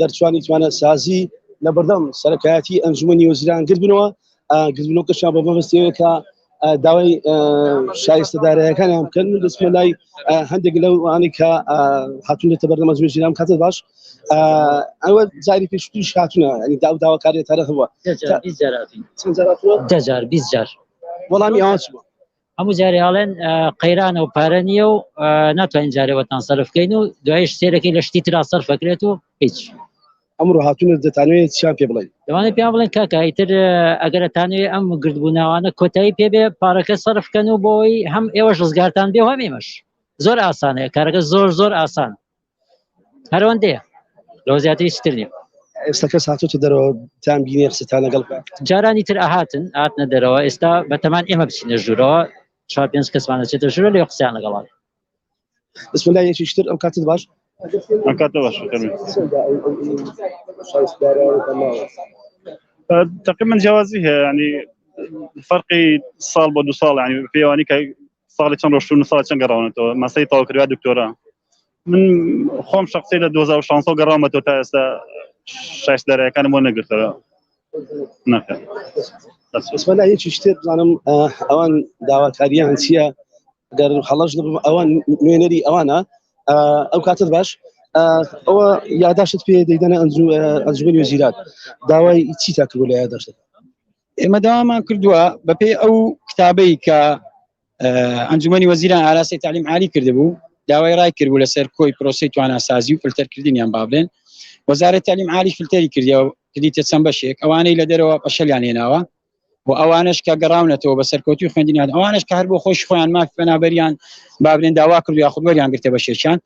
دەرچوانی توانە سازی لە بەردەم سەرکایەتی ئەنجومی وەزیران گردبنەوە گردنەوە کەشان بە مەبستەوەکە داوای شایستە دارایەکانیان بکەن و دەستمە لای هەندێک لەو ئەوانی کە هاتونێتە بەردەمە زوێ ژیرام کاتە باش ئەوە جاری پێشتیش هاتونە ئەنی داو داواکاری تارە هەوە دەجار بیست جار وەڵامی ئەوان چوە هەموو جارێ ئاڵێن قەیرانە و پارە نییە و ناتوانین جارێوەتان سەرفکەین و دوایش سێرەکەی لە شتی تررا سەرفەکرێت و هیچ ئەمڕۆ هاتوون دەتانوێت چیان پێ بڵێن دەوانێت پێیان بڵێن کاکە ئیتر ئەگەرەتانێ ئەم گردبووناوانە کۆتایی پێبێ پارەکە سەرفکەن و بۆی هەم ئێوەش ڕزگارتان بێ هەم ئێمەش زۆر ئاسانەیە کارەکە زۆر زۆر ئاسان هەرەوەندەیە لەوە زیاتری چتر نیە ئێستا کەس هاتوتە دەرەوە تام بینێ قسەتان لەگەڵ جارانی تر ئاهاتن هاتنە دەرەوە ئێستا بەتەمان ئێمە بچینە ژوورەوە چوار پێنج کەسمانە چێتە ژوورە لێ قسەیان لەگەڵان بسم الله یەکیشتر ئەو کاتت باش ئەم کاتە باش تقریبا جیازی هەیە ینی فەرقی ساڵ بۆ دو ساڵ ینی پێوانی کە ساڵی چەند ڕۆشتون ساڵ چەند گەڕاونەتەوە مەسەی تاو کرا دکتۆرا من خۆم شخصی لە 2016 گەڕامە تۆ تا ئێستا شایست دەرەکانم بۆ نەگرتەوە نەکە بەسمەلا یەکی شتێ بزانم ئەوان داواکاریان چییە گەر هەڵەش نبم ئەوان نوێنەری ئەوانە ئەو کاتت باش ئەوە یاداشت پێ دەیدەنە ئەنجومی وەزیرات داوای چی تاکردوو لە یاداشت ئێمە داوامان کردووە بەپێی ئەو کتابەی کە ئەنجومی وەزیران ئاراسی تعلیم عالی کردبوو داوای ڕای کردبوو لەسەر کۆی پرۆسی تواناسازی و فلتەرکردنیان بابلێن وەزارە تعلیم عالی فلتەری کردەوە کردیتە چەند بەشێک ئەوانەی لە دەرەوە پەشەلیان هێناوە و ئەوانش کە گەڕاونەتەوە بە سەرکەوتوی خوێندنیان ئەوانش کار بۆ خۆش خۆیان ماف پەنابەریان بابرێن داوا کردو یاخود وەریان گرتە بەشێکیان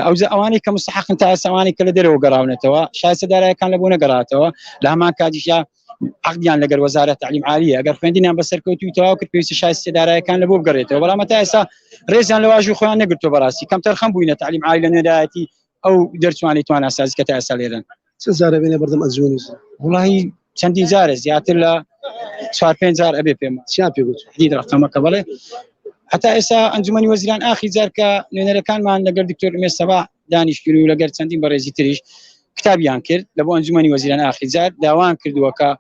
ئەوجا ئەوانەی کە مستحقن تا ئێساوانی کە لە دەرەوە گەڕاونەتەوە شایسە دارایەکان لە بۆ نەگەڕاتەوە لە هەمان کاتیشە عقدیان لەگەر وەزارەت تعلیم عالیە ئەگەر خوێندینیان بەسەرکەوتوی تەواو کرد پێویستی شایستی دارایەکان لە بۆ بگەڕێتەوە بەڵام تا ئێستا ڕێزیان لە واژوی خۆیان نەگرتو بەڕاستی کەمتەر خەم بووینە تعلیم عالی لە نوێدایەتی ئەو دەرچوانی توانا سازی کە تا ئێستا لێرەن چەند جارە بێنە بەردەم ئەنجومەنی ژن؟ وڵی چەندین جارە زیاتر لە چوار پێنج جار ئەبێ پێم چیان پێ گوت دی ڕقەمەکە بڵێ هەتا ئێستا ئەنجومەنی وەزیران ئاخی جار کە نوێنەرەکانمان لەگەر دکتۆر ئمێ سەبا دانیشتگیر و لەگەر چەندین بەڕێزی تریش کتابیان کرد لە بۆ ئەنجومەنی وەزیران ئاخی جار داوان کردووەکە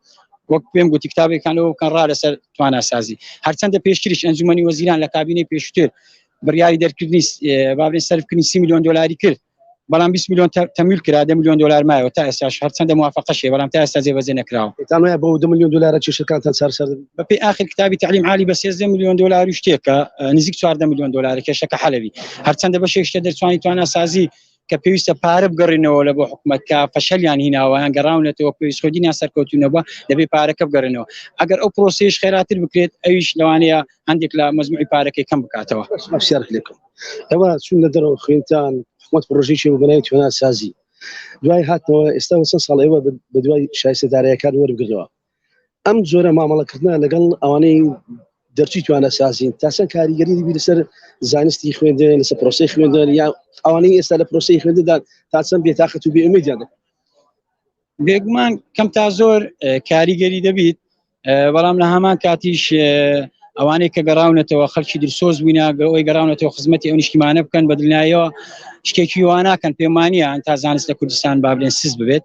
وەک پێم گوتی کتابێکانەوە بکەن ڕا لەسەر تواناسازی هەرچەندە پێشتریش ئەنجومەنی وەزیران لە کابینەی پێشتر بڕیاری دەرکردنی با بڵێین سەرفکردنی سی میلیۆن دۆلاری کرد بەڵام 20 میلیۆن تەمیل کرا دە میلیۆن دلار مایەوە تا ئێستاش هەرچەندە موافقەشێ بەڵام تا ئێستا جێبەجێ نەکراوە دەتانوایە بۆ دو میلیۆن دلارە چێشەکانتان چارەسەر دەبێت بەپێی ئاخر کتابی تعلیم عالی بە 13 میلیۆن دلار و شتێکە نزیک 14 میلیۆن دلار کێشەکە حەلەوی هەرچەندە بەشێک شتە دەرچوانی تواناسازی کە پێویستە پارە بگەڕێنەوە لە بۆ حکومت کە فەشەلیان هیناوەیان گەڕاونەتەوە پێویست خۆدی ناسەرکەوتونەوە دەبێ پارەکە بگەڕێنەوە ئەگەر ئەو پرۆسیش خێراتر بکرێت ئەویش لەوانەیە هەندێک لە مەزموعی پارەکەی کەم بکاتەوە سیارت لێکم ئەوە چون لە دەرەوە خوێنتان حکومت پرۆژێکی و بەنای توێناسازی دوای هاتەوە ئێستا وسە ساڵ ئێوە بە دوای شایستە دارایەکان وەرگرەوە ئەم جۆرە مامەڵەکردە لەگەڵ ئەوانەی دەرچی توانە سازین تاسەن کاریگەری دیبی لەسەر زانستی خوێندن لەسەر پرۆسی خوێندن یا ئەوانەی ئێستا لە پرۆسی خوێنددان تاسەن بێتاقەت و بێمیدیان بێگومان کەم تا زۆر کاریگەری دەبیت بەڵام لە هەمان کاتیش ئەوانەی کە گەڕاونەتەوە خەلکی درسۆز بووینە گەۆی گەڕاونەتەوە خزمەتی ئەو نیشتیمانە بکەن بەدلنایەوە شتێکی واناکەن پێمانە تا زانست لە کوردستان بابلێن سز ببێت